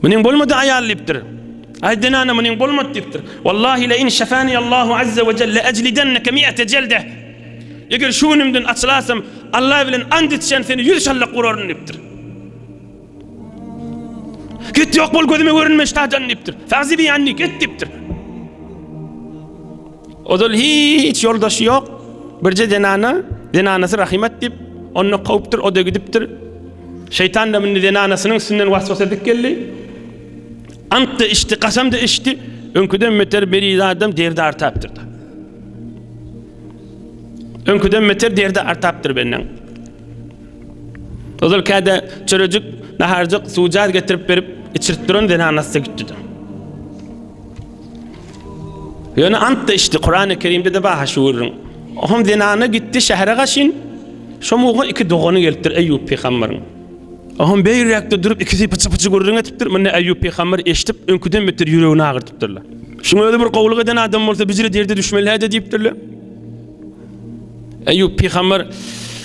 Munyň bolmady aýal diýipdir. Aý zenana munyň bolmady diýipdir. Wallahi la in şafani Allahu azza we jelle ajlidannaka mi'ate jelde. Eger şu günümden açylasam, Allah bilen ant içýän seni ýüz şallak uraryn diýipdir. Git ýok bol gözüme görünme ştadan diýipdir. Fagzi bi anni git diýipdir. Ozal hiç ýoldaşy ýok. Birje zenana, zenanasy Rahimat diýip, onda kowupdyr, o-da gidipdir. Şeýtan da muny zenanasynyň üstünden was-was edip geldi. Ant-da içdi, kasam-da içdi. Öňküden beter beri adam derdi artapdyr da. Öňküden beter derdi artapdyr benden. Ozal käde çörejik, naharjyk, suwjaz getirip berip, içirip duran zenanasy gitdi. Ýöne ant-da içdi, Kurany Kerimde-de bar ha şu gürrüň. Oňam zenana gitdi şähere gaşyn, şo mugtga iki dogany gelipdir Eýýup pygamberyň. Oňam beýräkde durup ikisi pyçy-pyçy gürrüň etipdir, muny Eýýup pygamber eşidip, öňküden beter ýüregini agyrdypdyrlar. Şuň özi bir gowulyk eden adam bolsa bijre derde düşmeli-hä-de diýipdirler. Eýýup pygamber,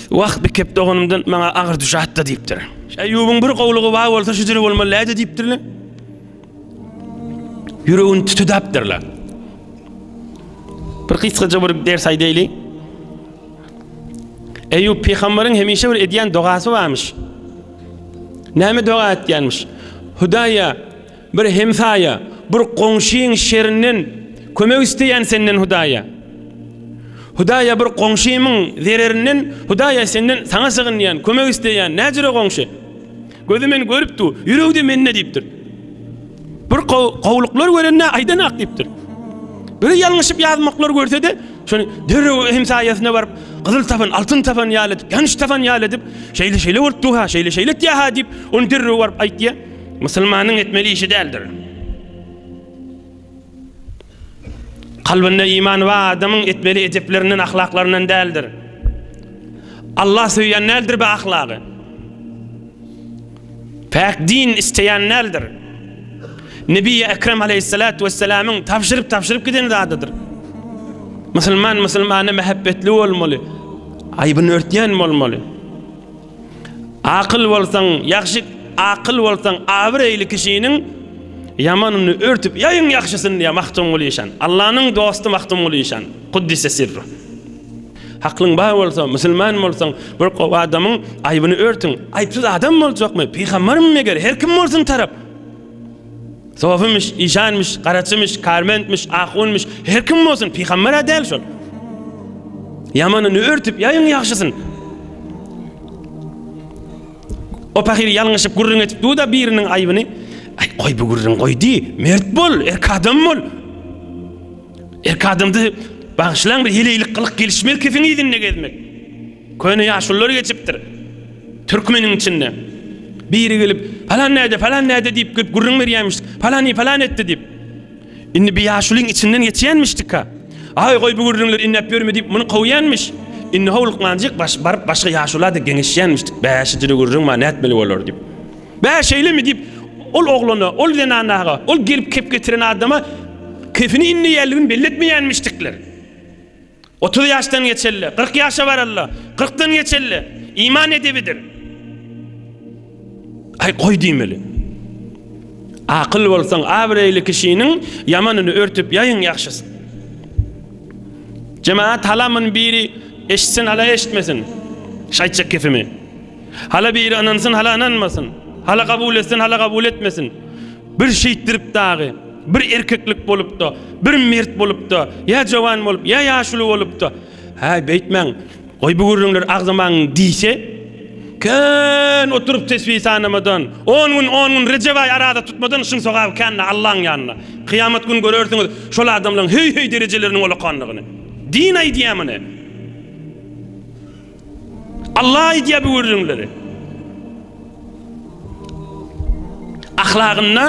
Wah, bikep doganymdan maňa agyr düşätdi diýipdir. Eýýubyň bir gowulygy bar bolsa şujere bolmaly-hä-de diýipdirler. Ýüregini tutudapdyrlar. Bir gysgaja bir ders aýdaýly. Eýýup pygamberiň hemişe bir edýän dogasy barmyş. Näme doga etýänmiş? Hudaýa bir hemsaýa, bir goňşyň şerinden kömek isteýän senden Hudaýa. Hudaýa bir goňşymyň zererinden Hudaýa senden saňa sygynýan, kömek isteýän, näjüre goňşy? Gözi meni görüp dur, ýüregi-de mende diýipdir. Bir gowulyklar görende aýdan ak diýipdir. Bir ýalňyşyp ýazmaklar görse-de, şony derrew hemsaýasyna baryp, gyzyl tapan, altyn tapan ýaly edip, ýanyş tapan ýaly edip, şeýle-şeýle bolup dur-ha, şeýle-şeýle etýär-ha diýip, ony derrew baryp aýtýar. Musulmanyň etmeli işi däldir. Kalbynda iman bar adamyň etmeli edeplerinden, ahlaklaryndan däldir. Allah söýýän däldir bu ahlagy. Päk din isleýän däldir. Nebi Ekrem aleyhissalatu vesselamyň tabşyryp tabşyryp giden zadydyr. Musulman musulmana mähebbetli bolmaly. Aýbyny örtýän bolmaly. Akyl bolsaň, ýagşy, akyl bolsaň, abyreýli kişiniň ýamanyny örtüp ýaýyň ýagşysyny diýýär Magtymguly işan. Allanyň dosty Magtymguly işan. Kuddise sirru. Haklyň bar bolsa, musulman bolsaň, bir gowy adamyň aýbyny örtüň. Aýpsyz adam boljakmy? Pygambermi meger? Her kim bolsun tarap. Sofymyş, işanmyş, garaçymyş, kärmentmiş, ahunmyş, her kim bolsun, pygamber-ä däl şol. Ýamanyny örtüp ýaýyň ýagşysyny. O pahyr ýalňyşyp gürrüň etip duda biriniň aýbyny. Aý, goý bu gürrüň goý diý, mert bol, erk adam bol. Erk adamdy, bagşylaň bir heleýlik gylyk gelişmez kesiň yzynda gezmek. Köne ýaşulylar geçipdir. Türkmeniň içinde. Biri gelip, Palan näde, palan näde diýip gelip gürrüň berýämiş. Palany palan etdi diýip. Indi bir ýaşulyň içinden geçýänmişdika. Aý, goý bu gürrüňleri inläp ýörme diýip muny kowýanmiş. Indi howlukmanjyk baş baryp başga ýaşulada geňeşýänmişdik. Bä, şijili gürrüň bar, nätmeli bolar diýip. Bä, şeýlemi diýip, ol oglana, ol zenanaga, ol gelip kep getiren adama kefini inleýänligini belli etmeýänmişdikler. Otuz ýaşdan geçeli, kyrk ýaşa barally, kyrkdan geçeli iman edebidir. Aý goý diýmeli. Akyl bolsaň, abraýly kişiniň ýamanyny örtüp ýaýyň ýagşysyny. Jemaat halamyny biri eşitsin, hala eşitmesin. Şaýtjak gepimi? Hala biri ynansyn, hala ynanmasyn. Hala kabul etsin, hala kabul etmesin. Bir şeýtdirip dagy, bir erkeklik bolupda, bir mert bolupda, ýa jowan bolup, ýa ýaşuly bolupda, Häý, beýtmäň, goý bu gürrüňleri agzamaň diýse, kän oturyp tesbi sanamadan, on gün, on gün Rejep aýy araza tutmadan şuň sogaby kändir Allaň ýanynda. Kyýamat güni görersiňiz şol adamlaň heý-heý derejeleriniň olakandygyny. Din aýdýar muny. Allah aýdýar bu gürrüňleri. Ahlagynda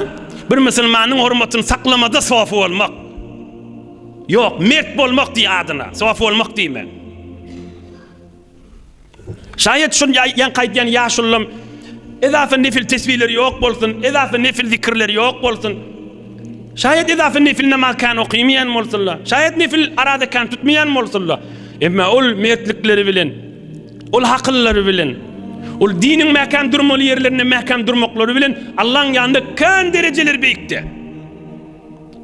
bir musulmanyň hormatyny saklamada sofy bolmak. Ýok, mert bolmak diý adyna, sofy bolmak diýme. Şaýat şun ýan gaýtýan ýaşullym Edafa nefil tesbihleri ýok bolsun, edafa nefil zikirleri ýok bolsun. Şaýat edasy nefil namaz kän okymaýan bolsunlar, şaýat nefil araza kän tutmaýan bolsunlar, emma ol mertlikleri bilen, ol hakyllary bilen, ol diniň mäkäm durmaly ýerlerinde mäkäm durmaklary bilen Allaň ýanynda kän derejeleri beýikde.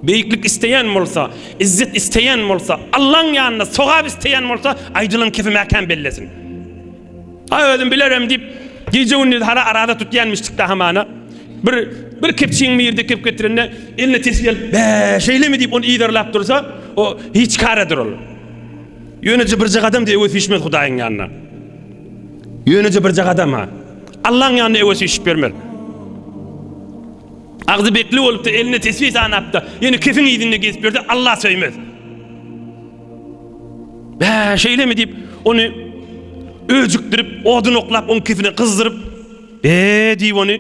Beýiklik isleýän bolsa, izzet isleýän bolsa, Allaň ýanynda sogap isleýän bolsa, aýdylan kepi mäkäm bellesin. A özüm bilerem diýip, gije-gündiz hara araza tutýanmyşdykda hamana, bir bir kepçigiň birini dikip getirende, eline tesbi alyp, Bä, şeýlemi diýip, ony yzarlap dursa, o hiç karadyr ol. Ýöneje birje gadam-da öňe süýşmez Hudaýyň ýanyna. Ýöneje birje gadam-ha. Allaň ýanyna öňe süýşüp bermez. Agzy bekli bolup-da, eline tesbi sanap-da, ýene kefiň yzynda gezip ýörse, Allah söýmez. Bä, şeýlemi diýip, ony öjükdirip, odun oklap, oň kifini gyzdyryp, be diýip ony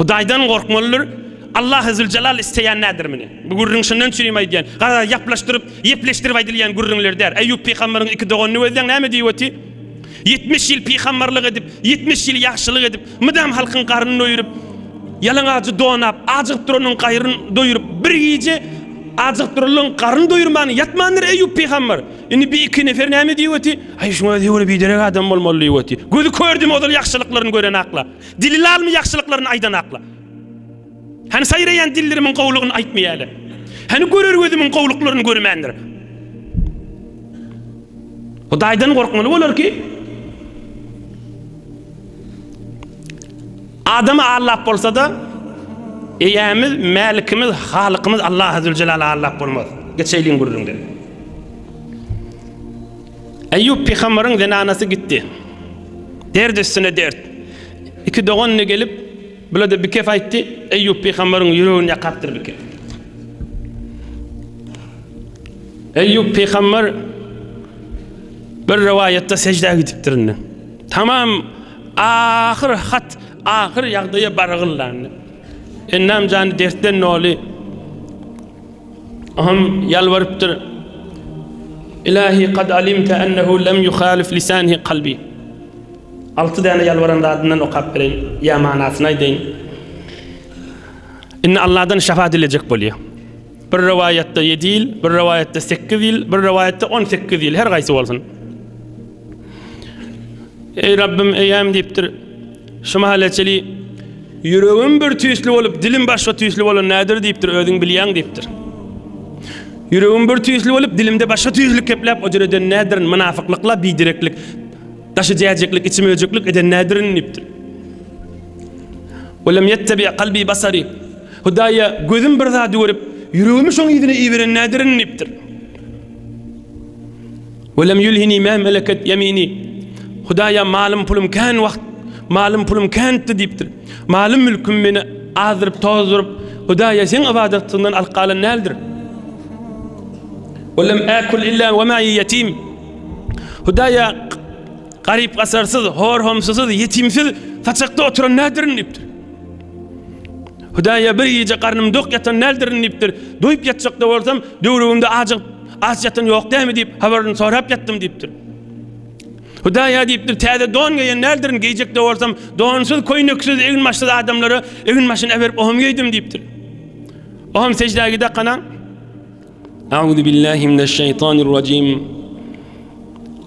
Hudaýdan gorkmalydyr. Allah Zülcelal isteýän nädir meni? Bu gürrüň şundan üçin hem aýdýan. Gara ýaplaşdyryp, ýepleşdirip aýdylýan gürrüňler däl. Eýýup pygamberiň iki doganyny gözleň näme diýip öti? Ýetmiş ýyl pygambarlyk edip, ýetmiş ýyl ýagşylyk edip, mydam halkyň garnyny doýuryp, ýalaňajy donap, ajygyp duranyň gaýryny doýuryp, bir gije ajygyp duranlaň garnyny doýurman ýatmandyr Eýýup pygambar. Indi bi iki nefer näme diýip oty? Aý şuňa özi-ä biderek adam bolmaly diýip oty. Gözi kördümi ozal ýagşylyklaryny gören akla? Dili lalmy ýagşylyklaryny aýdan akla? Hany saýraýan dillerimiň gowulygyny aýtmaýarlar. Hany görer gözümiň gowulyklaryny görmändir. Hudaýdan gorkmaly bolar ki, adamy allap bolsa-da, eýämiz, mälikimiz, halykymyz Allahy Züljelal allap bolmaz. Geçeýliň gürrüňden. Eýýup pygamberiň zenanasy gitdi. Dert üstüne dert. Iki dogan gelip, Bile-de bikef aýtdy, Eýýup pygamberyň ýüregini ýakapdyr bikef. Eýýup pygamber bir rowaýatda sejdä gidipdir indi. Tamam ahyr hat, ahyr ýagdaýa baragyllandy. Ennam jany dertden doly. Oňam ýalbarypdyr. Ilahi kad alimte ennehu lem yuhalif lisanhi kalbi. Alty däne ýalbaran zadyndan okap bereýin, ýa manasyny aýdaýyn. Indi Allahdan şefaat dilejek bolýar. Bir rowaýatda 7 ýyl, bir rowaýatda 8 ýyl, bir rowaýatda 18 ýyl, her gaýsy bolsun. Eý Rabbym, eýem diýipdir. Şu mahaly çili, Ýüregim bir tüýsli bolup, dilim başga tüýsli bolan nädir diýipdir, özüň bilýäň diýipdir. Ýüregim bir tüýsli bolup, dilimde başga tüýsli kepläp ojar eden nädirin, mynafyklyk-la bidereklik, daşy jäjeklik, içi möjeklik eden nädirin diýipdir. Welem ýettebi kalbi basari, Hudaýa gözüm bir zady görüp, ýüregimi şoň yzyna iberen nädirin diýipdir. Welem ýülhini mä meleket ýemini, Hudaýa malym-pulum kän wagt, malym-pulum känitdi diýipdir. Malym-mülküm meni azdyryp-tozduryp, Hudaýa Seň ybadatsyňdan alyp galan däldir. Welem äkül illä we mäi ýetim, Hudaýa garyp-gasarsyz, hor-homsusyz, ýetimsiz saçakda oturan däldirin diýipdir. Hudaýa bir gije garnym dok ýatan däldirin diýipdir. Doýup ýatjakda bolsam, döwrügimde ajygyp, Aç ýatan ýok dämi diýip, habaryny sorap ýatdym diýipdir. Hudaýa diýipdir, täze don geýen däldirin, geýjek de bolsam, donsuz, köýneksiz, egin başsyz adamlara egin başyny äberip oňam geýdim diýipdir. Oňam sejdä gidä kanan. Auzu billahi mineşşeýtanirrajim.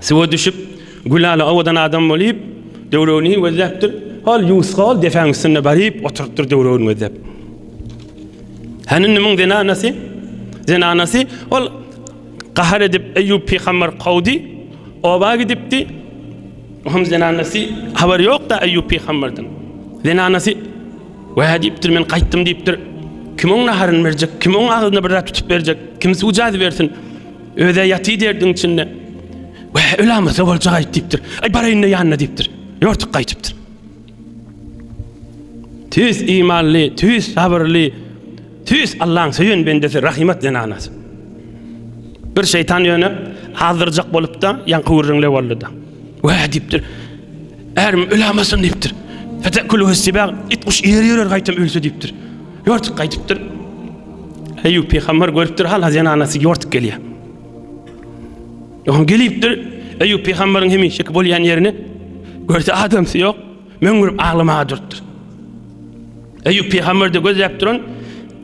Suwa düşüp, Gülala owadan adam bolýup, döwregini gözläpdir. Hol ýuska ol depäň üstünde baryp oturypdyr döwregini gözläp. Hany indi muň zenanasy? Zenanasy ol gahar edip Eýýup pygamber kowdy, oba gidipdi. Oňam zenanasy habar ýokda Eýýup pygamberden. Zenanasy Wä diýipdir, men gaýtdym diýipdir. Kim oň naharyny berjek? Kim oň agzyna bir zat tutup berjek? Kim suw jazy bersin? Öze ýaty derdiň içinde. Wä, ölamasa boljak aýt diýipdir. Aý baraýynda ýanyna diýipdir. Ýortup gaýtypdyr. Tüýs imanly, tüýs sabyrly, tüýs Allaň söýen bendesi Rahimat zenanasy. Bir şeýtan ýöne azdyrjak bolupda, ýaňky gürrüňle boldy-da. Wä diýipdir. Ärim ölämasyn diýipdir. Fetekül wesibag it guş ýer ýörer gaýtam ölse diýipdir. Ýortuk gaýdypdyr. Eýýup pygamber görüpdir hala zenanasy ýortuk gelýär. Oňa gelipdir. Eýýup pygamberiň hemişeki bolýan ýerini görse adamsy ýok. Möňürip aglamaga durupdyr. Eýýup pygamber de gözläp duran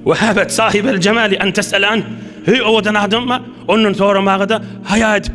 we habet sahibel jemali an tes'alan. Hey owadan adamma ondan soramaga da haýa edip.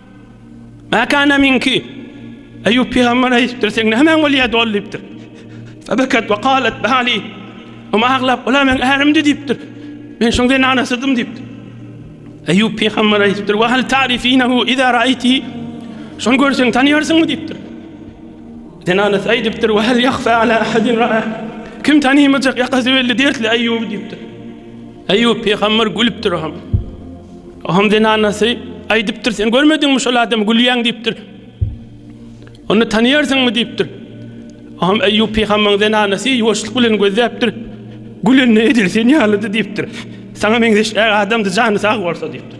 Mäkana minki. Eýýup pygamber aýdypdyr, seň nämäň bolýar doly diýipdir. Febekat we galet bali. Oma aglap, ola meň ärimdi diýipdir. Men şoň zenana sydym diýipdir. Eýýup pygamber aýdypdyr, we hal tarifinahu iza raýti. Şony görseň tanýarsyňmy diýipdir. Zenana aýdypdyr, we hal yahfa ala ahadin ra'a. Kim tanymajak ýakasy belli dertli Eýýuby diýipdir. Eýýup pygamber gülüpdir, Aham. Aham zenanasy aýdypdyr, Sen görmediňmi şol adamy gülýäň diýipdir. Ony tanaýarsyňmy diýipdir. Aham Eýýup pygambeň zenanasy ýuwaşlyk bilen gözläpdir. Gülende edil sen ýalydy diýipdir. Saňa meňzeş äý adamdy jany sag bolsa diýipdir.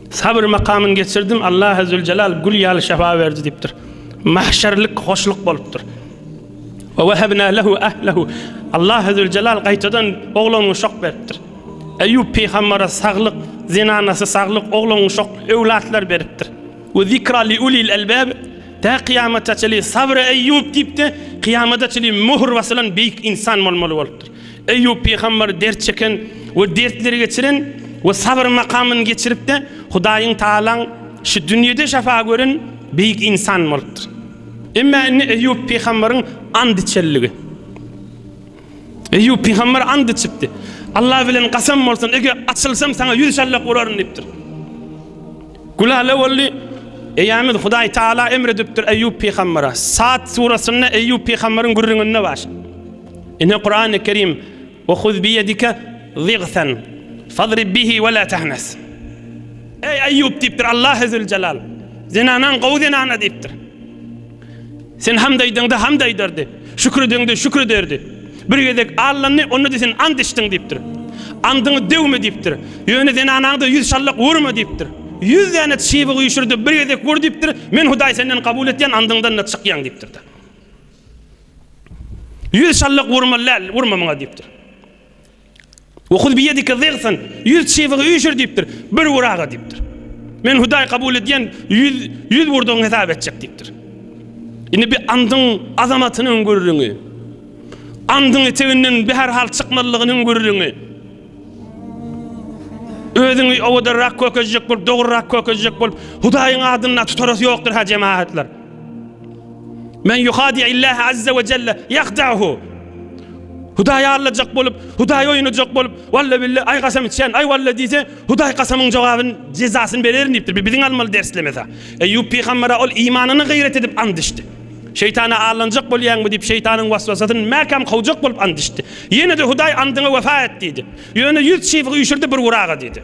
Sabyr makamyny geçirdim, Allahy züljelal gül ýaly şefa berdi diýipdir. Mahşerlik hoşluk bolupdyr. Ve vehebna lehu ahlehu. Allahy züljelal gaýtadan oglangy şok beripdir. Eýýup pygambere saglyk, zenanasy saglyk, oglangy şok, öwlatlar beripdir. Ve zikra li ulil elbab. Tä kyýamata çenli sabyr eýýup diýip-de, kyýamata çenli möhür basylan beýik insan bolmaly bolupdyr. Eýýup pygamber dert çeken we dertleri geçiren we sabyr makamyny geçirip-de Hudaýyň Tagalaň şu dünýede şefa gören beýik ynsan bolupdyr. Emma indi Eýýup pygamberiň and içenligi. Eýýup pygamber and içipdi. Allah bilen gasam bolsun, eger açylsam saňa ýüz şallak uraryn diýipdir. Gülale boldy. Eýämiz Hudaý Taala emr edipdir Eýýup pygambere. Sat surasynda Eýýup pygamberiň gürrüňinde bar. Ine Kurany Kerim Ve huz bi yedike zigsen fadrib bihi ve la tahnas. Eý Eyyub diýipdir Allah Ezzül Celal. Zenanaň gowy zenana diýipdir. Sen hamd aýdyňda hamd aýdardy. Şükür ediňde şükür ederdi. Bir gezek allandy, onda da sen ant içdiň diýipdir. Andyňy döwme diýipdir. Ýöne zenanaňda ýüz şallak urma diýipdir. Ýüz däne çybygy üşürdi, bir gezek ur diýipdir. Men Hudaý senden kabul etýän andyňdan da çykýaň diýipdir. Ýüz çallyk urmaly däl, urma muňa diýipdir. Wahuz biyedike zigsan, ýüz çybygy üýşür diýipdir. Bir ur aga diýipdir. Men Hudaý kabul edýän ýüz, ýüz urdugyňy hesap etjek diýipdir. Indi bir andyň azamatynyň gürrüňi. Andyň eteginden bir her hal çykmalygynyň gürrüňi. Özüňi owadanrak kökezjek bolup, dogrurak kökezjek bolup, Hudaýyň adyny tutarasy ýokdur ha jemaatlar. Men yuhadi Allahi azza we jelle yahdahu. Hudaýy allajak bolup, Hudaýy oýnajak bolup, walla billa aý gasam içen, aý walla diýse, Hudaý gasamyň jogabyny jezasyny bererin diýipdir. Biziň almaly derslemesa. Eýýup pygambere ol imanyny gyrat edip and içdi. Şeýtana aldanjak bolýaňmy? diýip, şeýtanyň waswasasyny mäkäm kowjak bolup and içdi. Ýene-de Hudaý andyňa wepa et! diýdi. Ýöne ýüz çybygy üýşürdi, bir uraga diýdi.